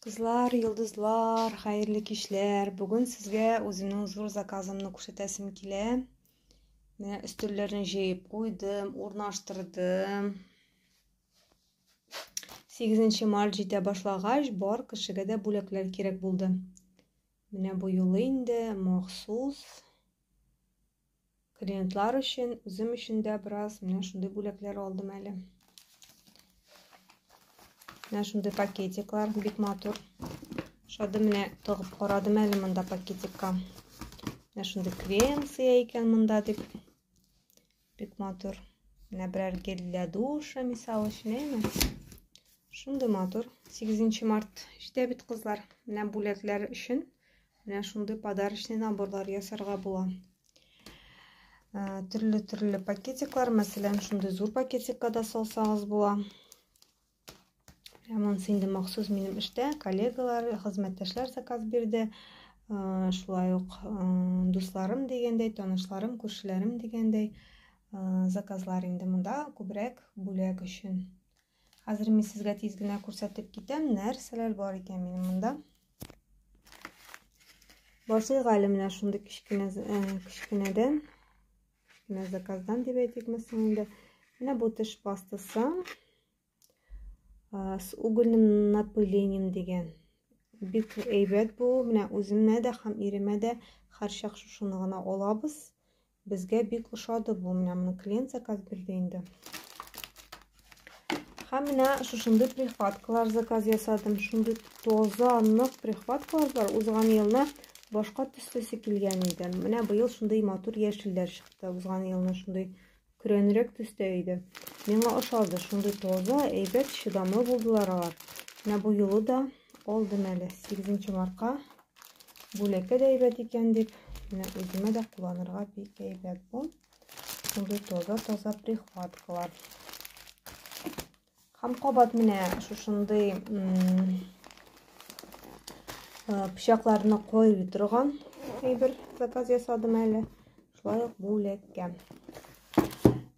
Кызлар, йолдызлар, хәерле кичләр. Бүген сезгә үземнең зур заказымны күрсәтәсем килә. Менә өстәлләрне җыеп куйдым, урнаштырдым. 8 март җитә башлагач, бар кешегә дә бүләкләр кирәк булды. Менә бу юлы инде махсус Клиентлар өчен, үзем өчен дә бераз менә шундый бүләкләр алдым әле. Менә шундый пакетиклар, бик матур. Шады менә тыгып карадым әле монда пакетикка. Менә шундый крем сыя икән монда дип. Бик матур. Менә берәр гель для душа, мисал өчен, әйме? Шундый матур. 8 март җитә бит кызлар. Менә бүләкләр өчен Менә шундый подарочный наборлар ясарга була. Төрле-төрле пакетиклар, мәсәлән, шундый зур пакетикка да салсагыз була. Монысы инде махсус минем эштә коллегалар, хезмәттәшләр заказ бирде. Шулай ук дусларым дигәндәй, танышларым, күршеләрем дигәндәй заказлар инде монда күбрәк бүләк өчен. Хәзер мин сезгә тиз генә күрсәтеп китәм, нәрсәләр бар икән минем монда. Башлыйк әле менә шундый кечкенә э, кечкенәдән, кечкенә заказдан дип әйтикме соң инде. Менә бу теш пастасы э, с угольным напылением дигән. Бик әйбәт бу. Менә үземә дә һәм иремә дә һәрчак шушыны гына алабыз. Безгә бик ошады бу. Менә моны клиент заказ бирде инде. Һәм менә шушындый прихваткалар заказ ясадым. Шундый тоза, нык прихваткалар бар. Узган елны башка төслесе килгән иде. Менә быел шундый матур яшелләр чыкты. Узган елны шундый көрәнрәк төстә иде. Миңа ошады. Шундый тоза, әйбәт, чыдамлы булдылар алар. Менә бу юлы да Алдым әле 8 марка. Бүләккә дә әйбәт икән дип, менә үземә дә кулланырга бик әйбәт бу. Шундый таза-таза прихваткалар. Һәм кабат менә шушындый пычакларны коеп торган әйбер заказ ясадым әле. Шулай ук бүләккә.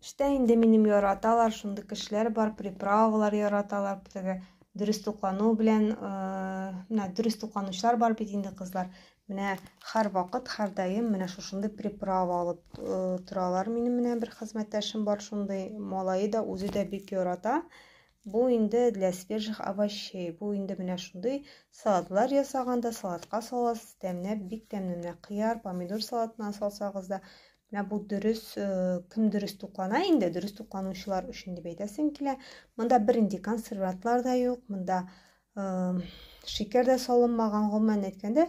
Эштә инде минем яраталар, шундый кешеләр бар, приправалар яраталар, теге дөрес туклану белән менә дөрес тукланучылар бар бит инде кызлар менә һәрвакыт һәрдаим менә шушындый приправа алып торалар минем менә бер хезмәттәшем бар шундый малае да үзе дә бик ярата бу инде для свежих овощей бу инде менә шундый салатлар ясаганда салатка саласыз тәмләп бик тәмле менә кыяр помидор салатына салсагыз да Менә бу дөрес, э, кем дөрес туклана инде, дөрес тукланучылар өчен дип әйтәсем килә. Монда бернинди консервантлар да юк, монда э, шикәр дә салынмаган, гомумән әйткәндә,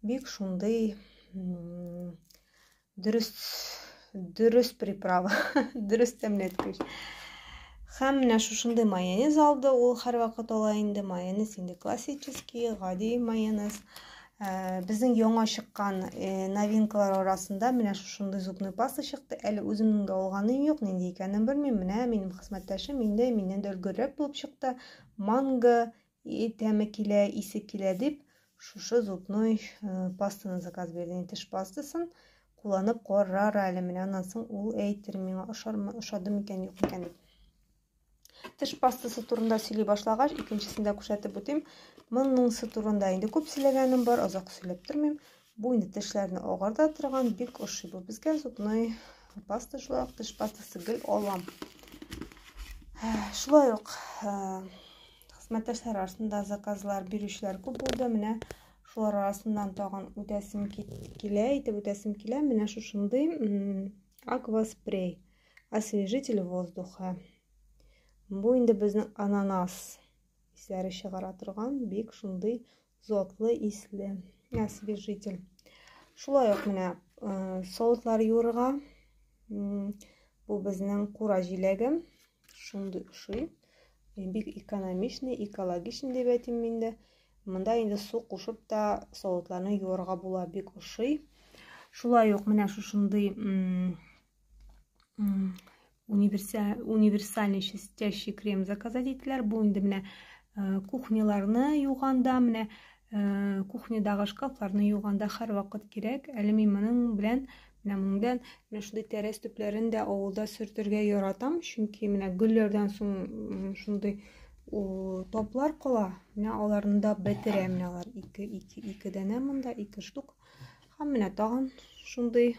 бик шундый дөрес дөрес приправа, дөрес тәмләткеч. Һәм менә шушындый майонез алды, ул һәрвакыт ала инде майонез, инде классический, гади майонез. Ә, безнең яңа чыккан э, новинкалар арасында менә шушындый зубный паста чыкты. Әле үземнең дә алганым юк, нинди икәнен белмим. Менә минем хезмәттәшем инде миннән дә өлгеррәк булып чыкты. Манго и тәме килә, исе килә дип, шушы зубной э, пастаны заказ бирде. Теш пастасын кулланып карар әле. Менә аннан соң ул әйтер миңа ошармы, ошады микән, юк микән дип. Теш пастасы турында сөйли башлагач, икенчесен дә күрсәтеп үтим. Моныңсы турында инде күп сөйләгәнем бар, озак сөйләп тормыйм. Бу инде тешләрне агарта торган, бик ошый бу безгә зубной паста шулай ук теш пастасы гел алам. Шулай ук хезмәттәшләр арасында заказлар бирүчеләр күп булды. Менә шулар арасыннан тагын үтәсем килә, әйтеп үтәсем килә. Менә шушындый акваспрей. освежитель воздуха. Бу инде безнең ананас исләре чыгара торган бик шундый затлы исле освежитель. Шулай ук менә э, савытлар юырга. Бу безнең кура җиләге. Шундый ошый. Э, бик экономичный, экологичный дип әйтим мин дә. Монда инде су кушып та савытларны юырга була, бик ошый. Шулай ук менә шушындый универсальный чистящий крем заказать иттеләр. Бу инде менә э, кухняларны юганда, менә э, кухнядагы шкафларны юганда һәр вакыт кирәк. Әле мин моның белән менә моңдан менә шундый тәрәз төпләрен дә авылда сөртергә яратам, чөнки менә гөлләрдән соң шундый топлар кала. Менә аларны да бетерәм, менә алар ике ике ике данә монда, ике штук. Һәм менә тагын шундый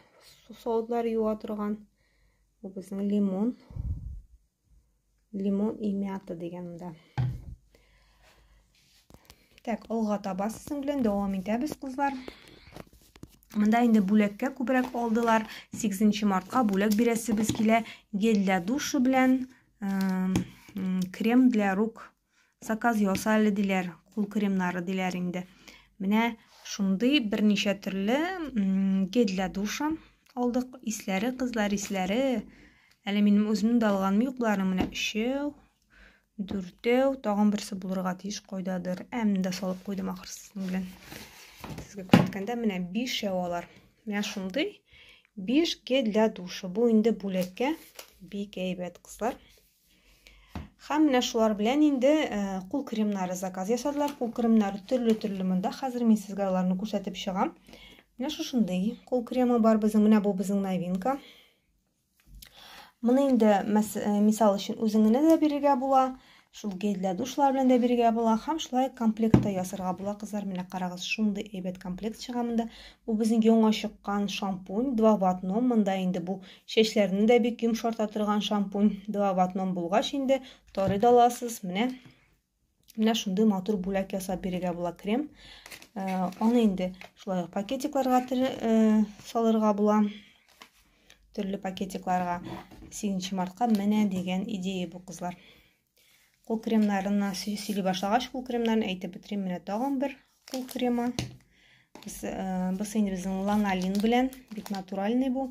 сауытлар юа торган. Бу безнең лимон. Лимон и мята дигән монда. Так, алга таба сезнең белән дәвам итәбез, кызлар. Монда инде бүләккә күбрәк алдылар. 8 мартка бүләк бирәсебез килә. Гель для душа белән крем для рук Заказ яса әле диләр, кул кремнары диләр инде. Менә шундый берничә төрле гель для душа алдык. Исләре, кызлар исләре. Әле минем үземнең дә алганым юк, боларның менә өчәү, дүртәү, тагын берсе булырга тиеш кайдадыр. Ә менә дә салып куйдым ахырсының белән. Сезгә күрсәткәндә менә бишәү алар. Менә шундый биш гель для душа. Бу инде бүләккә бик әйбәт, кызлар. Һәм менә шулар белән инде э, кул кремнары заказ ясадылар. Кул кремнары төрле-төрле монда. Хәзер мин сезгә аларны күрсәтеп чыгам. Менә шушындый кул кремы бар безнең. Менә бу безнең новинка. Моны инде э, мисал өчен үзеңне дә бирергә була, шул гельдә душлар белән дә бирергә була һәм шулай комплектта ясарга була. Кызлар, менә карагыз, шундый әйбәт комплект чыга монда. Бу безнең яңа чыккан шампунь, два в одном. Монда инде бу Чәчләрне дә бик йомшарта торган шампунь. Два в одном булгач инде тарый да аласыз. Менә менә шундый матур бүләк ясап бирергә була крем. Э, аны инде шулай пакетикларга э, салырга була. Төрле пакетикларга 8 мартка менә дигән идея бу кызлар. Кул кремнарына сөйли башлагач, кул кремнарын әйтеп бетерим. Менә тагын бер кул кремы. Без э, без инде безнең ланалин белән, бик натуральный бу.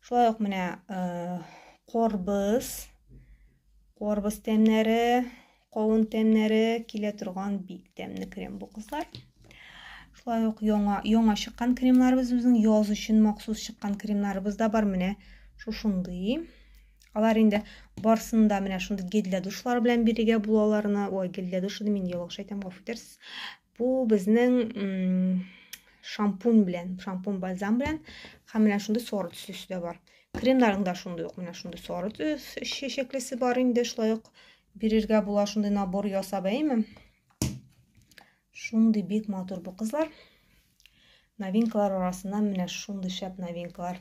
Шулай ук менә э, корбыз, корбыз тәмнәре, кавын тәмнәре килә торган бик тәмле крем бу кызлар. Шулай ук яңа яңа чыккан кремнарыбыз үзенең яз өчен махсус чыккан кремнарыбыз да бар. Менә шушындый Алар инде барсын да менә шундый гильдия душлары белән бирегә булаларына, ой, гильдия душы мин ялгыш әйтәм, гафу итәрсез. Бу безнең шампунь белән, шампунь бальзам белән һәм менә шундый сары төслесе дә бар. Кремнарның да шундый ук менә шундый сары төс чәчәклесе бар инде, шулай ук бирергә була шундый набор ясап, әйме? Шундый бик матур бу кызлар. Новинкалар арасында менә шундый шәп новинкалар.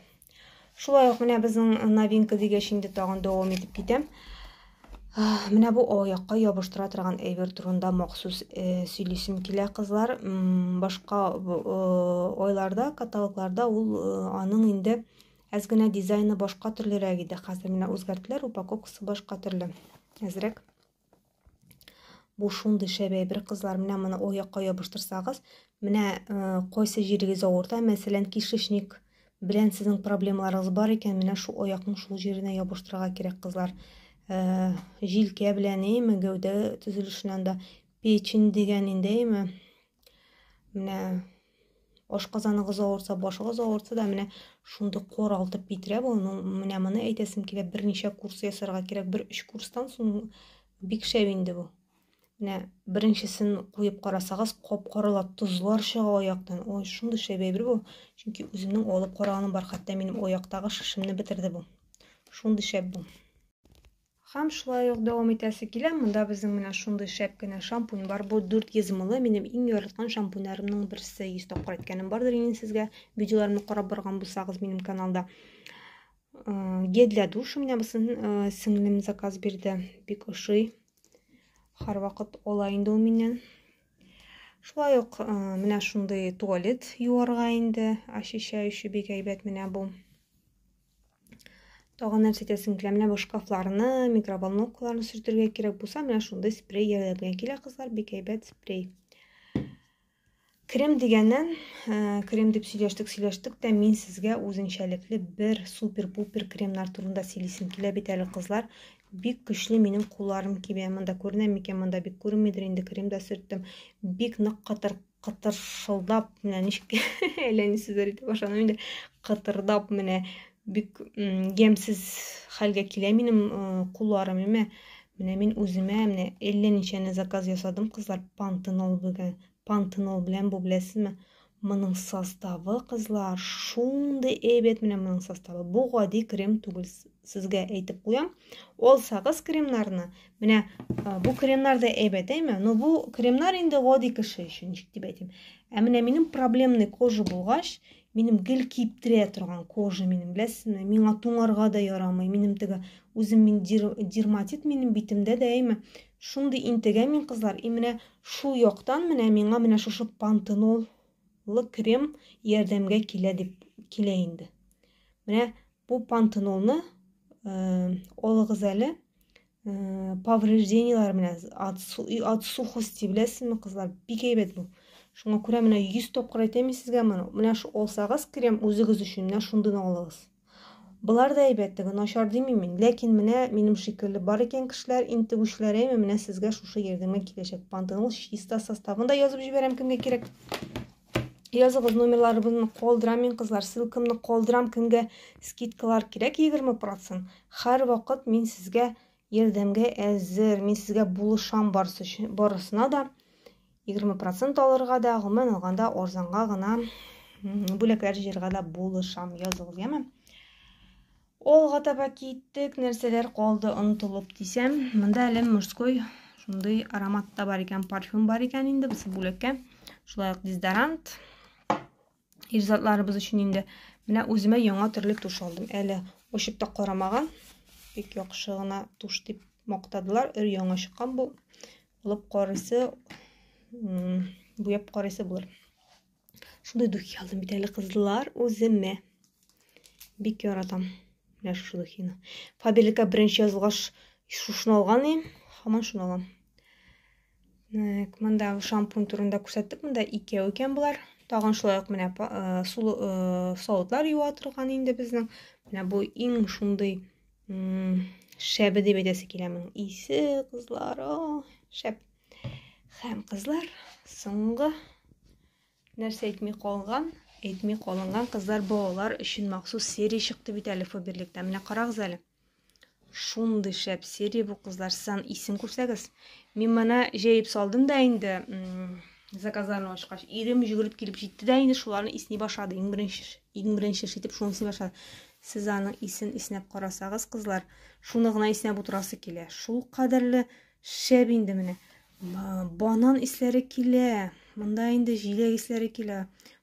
Шулай ук менә безнең новинка дигәч инде тагын дәвам итеп китәм. Менә бу аякка ябыштыра торган әйбер турында махсус э, сөйлисем килә кызлар. Башка э, айларда, каталогларда ул э, аның инде әз генә дизайны башка төрлерәк иде. Хәзер менә үзгәрттеләр, упаковкасы башка төрле. Әзрәк. Бу шундый шәбәй бер кызлар, менә моны ул якка ябыштырсагыз, менә э, кайсы җирегез авырта, мәсәлән, кишечник белән сезнең проблемаларыгыз бар икән, менә шу аякның шул җиренә ябыштырырга кирәк, кызлар. Э, җилкә белән, әйме, гәүдә төзелешеннән дә печень дигән инде, әйме, Менә ашказаныгыз авырса, башыгыз авырса да менә шундый коралтып бетерә бу. Ну, менә моны әйтәсем килә, берничә курс ясарга кирәк. Бер өч курстан соң бик шәп инде бу. Менә беренчесен куеп карасагыз, кап-кара тозлар чыга аяктан. Ой, шундый шәп әйбер бу. Чөнки үземнең алып караганым бар, хәтта минем аяктагы шешемне бетерде бу. Шундый шәп бу. Хәм шулай ук дәвам итәсе килә, монда безнең менә шундый шәп кенә шампунь бар. Бу 400 мл, минем иң яраткан шампуньнарымның берсе. 100 тапкыр әйткәнем бардыр инде сезгә. Видеоларымны карап барган булсагыз минем каналда. Э, гель для душа менә бусын э, сеңлем заказ бирде. Бик ошый. Һәрвакыт ала инде ул миннән. Шулай ук э, менә шундый туалет юарга инде, очищающий бик әйбәт менә бу. Тагын нәрсә әйтәсем килә, менә бу шкафларны, микроволновкаларны сөртергә кирәк булса, менә шундый спрей ярдәмгә килә, кызлар, бик әйбәт спрей. Крем дигәннән, э, крем дип сөйләштек, сөйләштек тә, мин сезгә үзенчәлекле бер супер-пупер кремнар турында сөйлисем килә бит әле, кызлар. Бик көчле минем кулларым кибә. Монда күренә микән? Монда бик күренмидер инде, крем да сөрттем. Бик нык катыр кытыршылдап менә ничек әллә ни сүзләр әйтеп башладым инде кытырдап менә бик ямьсез хәлгә килә минем кулларым әмма менә мин үземә менә әллә ничәне заказ ясадым кызлар пантенол белән пантенол белән бу беләсезме моның составы кызлар шундый әйбәт менә моның составы бу гади крем түгел сезгә әйтеп куям ул сагыз кремнарны менә бу кремнар да әйбәт әйме но бу кремнар инде гади кеше өчен ничек дип әйтим ә менә минем проблемный кожа булгач минем гел киптерә торган кожа минем беләсезме миңа туңарга да ярамый минем теге үзем мин дерматит минем битемдә дә әйме шундый интегә мин кызлар и менә шул яктан менә миңа менә шушы пантенол лы крем ярдәмгә килә дип килә инде. Менә бу пантенолны алыгыз әле поврежденияләр белән от, от сухости беләсезме кызлар бик әйбәт бу шуңа күрә менә 100 тапкыр әйтәм сезгә моны менә шу алсагыз крем үзегез өчен менә шундыйны алыгыз Болар да әйбәт, теге начар димим мин. Ләкин менә минем шикелле бар икән кешеләр, интегүчеләр, әйме, менә сезгә шушы ярдәмгә киләчәк пантенол чиста составын да язып җибәрәм кемгә кирәк. Языгыз номерларыбызны калдырам мин кызлар, ссылкамны калдырам кемгә скидкалар кирәк 20%. Һәр вакыт мин сезгә ярдәмгә әзер, мин сезгә булышам барысы өчен, барысына да. Егерме процент алырга да, гомумән алганда, арзанга гына бүләкләр җыярга да булышам. Языгыз, яме? Олга таба киттек, нәрсәләр калды онтылып дисәм, монда әле мужской шундый аромат та бар икән, парфюм бар икән инде, бусы бүләккә. Шулай ук дезодорант. Ир затларыбыз өчен инде менә үземә яңа төрле туш алдым. Әле очып та карамаган. Бик яхшы гына туш дип мактадылар. Өр яңа чыккан бу. Алып карыйсы, буяп карыйсы булыр. Шундый духи алдым бит әле кызлар үземә. Бик яратам. Менә шушы духины. Фаберликка беренче язылгач шушыны алган идем. Һаман шуны алам. Так, монда шампунь турында күрсәттек. Монда икәү икән болар. Тагын шулай ук менә э, сулы э, савытлар юа торган инде безнең. Менә бу иң шундый шәбе дип әйтәсе килә моның. Исе кызлар, шәп. Хәм кызлар, соңгы нәрсә әйтми калган, әйтми калынган кызлар балалар өчен махсус серия чыкты бит әле Фаберлектә. Менә карагыз әле. Шундый шәп серия бу кызлар. Сезан исем күрсәгез. Мин моны җәеп салдым да инде заказларны ачкач. Ирем жүгереп килеп җитте дә инде шуларны исни башлады. Иң беренче иң беренче шитеп шуны исни башлады. Сез аның исен иснәп карасагыз, кызлар, шуны гына иснәп утырасы килә. Шул кадәрле шәп инде менә. Банан исләре килә. Монда инде җиләк исләре килә.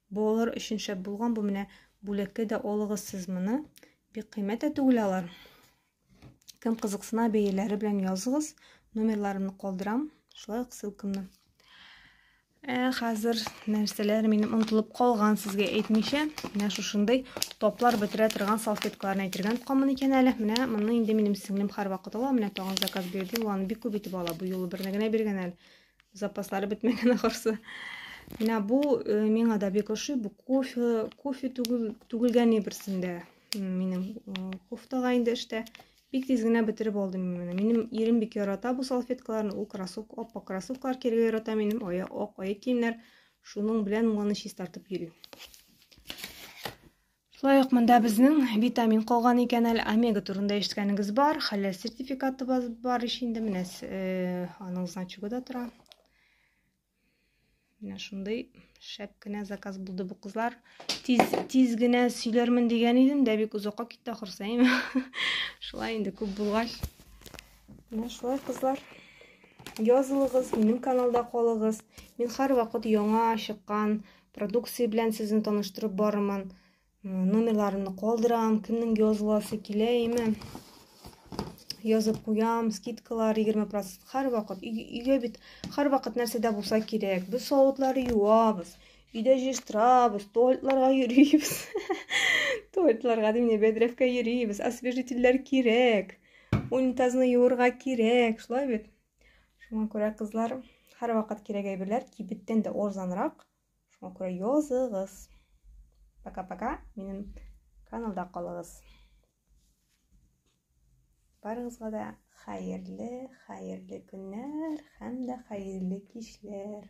Балалар өчен шәп булган бу менә бүләккә дә алыгыз сез моны. Бик кыйммәт тә түгел алар. Кем кызыксына, бәяләре белән языгыз. Номерларымны калдырам, шулай ук ссылкамны. Ә хәзер нәрсәләр минем онтылып калган сезгә әйтмичә, менә шушындый топлар бетерә торган салфеткаларны әйтергә тотканмын икән әле. Менә моны инде минем сеңлем һәрвакыт ала, менә тагын заказ бирде, ул аны бик күп итеп ала, бу юлы берне генә биргән әле. Запаслары бетмәгән ахырсы. Менә бу э, миңа да бик ошый. Бу кофе, кофе түгел, түгелгән берсендә. Минем э, кофтага инде эштә. Бик тиз генә бетереп алдым мин Минем ирем бик ярата бу салфеткаларны. Ул кроссовка, аппак кроссовкалар кияргә ярата минем. Ая, ак аяк киемнәр. Шуның белән моны чистартып йөрим. Шулай ук монда безнең витамин калган икән әле, омега турында ишеткәнегез бар, хәләл сертификаты бар ич инде, менә э, аның значогы да тора. Менә шундый шәп кенә заказ булды бу кызлар. Тиз, тиз генә сөйләрмен дигән идем, дә бик озакка китте ахырсы, әйме? Шулай инде күп булгач. Менә шулай кызлар. Язылыгыз, минем каналда калыгыз. Мин һәрвакыт яңа чыккан Продукция белән сезне таныштырып барырмын. Номерларымны калдырам, кемнең языласы килә, әйме. Язып куям, скидкалар 20% һәр вакыт. Өйгә бит һәр вакыт нәрсә дә булса кирәк. Без савытлар юабыз, өйдә җыштырабыз, туалетларга йөрибез. Туалетларга дип не бедрәфкә йөрибез, освежительләр кирәк. Унитазны юырга кирәк, шулай бит. Шуңа күрә, кызлар, һәрвакыт кирәк әйберләр кибеттән дә арзанрак. Шуңа күрә языгыз. Пока-пока, минем каналда калыгыз. Барыгызга да хәерле, хәерле көннәр һәм дә хәерле кичләр.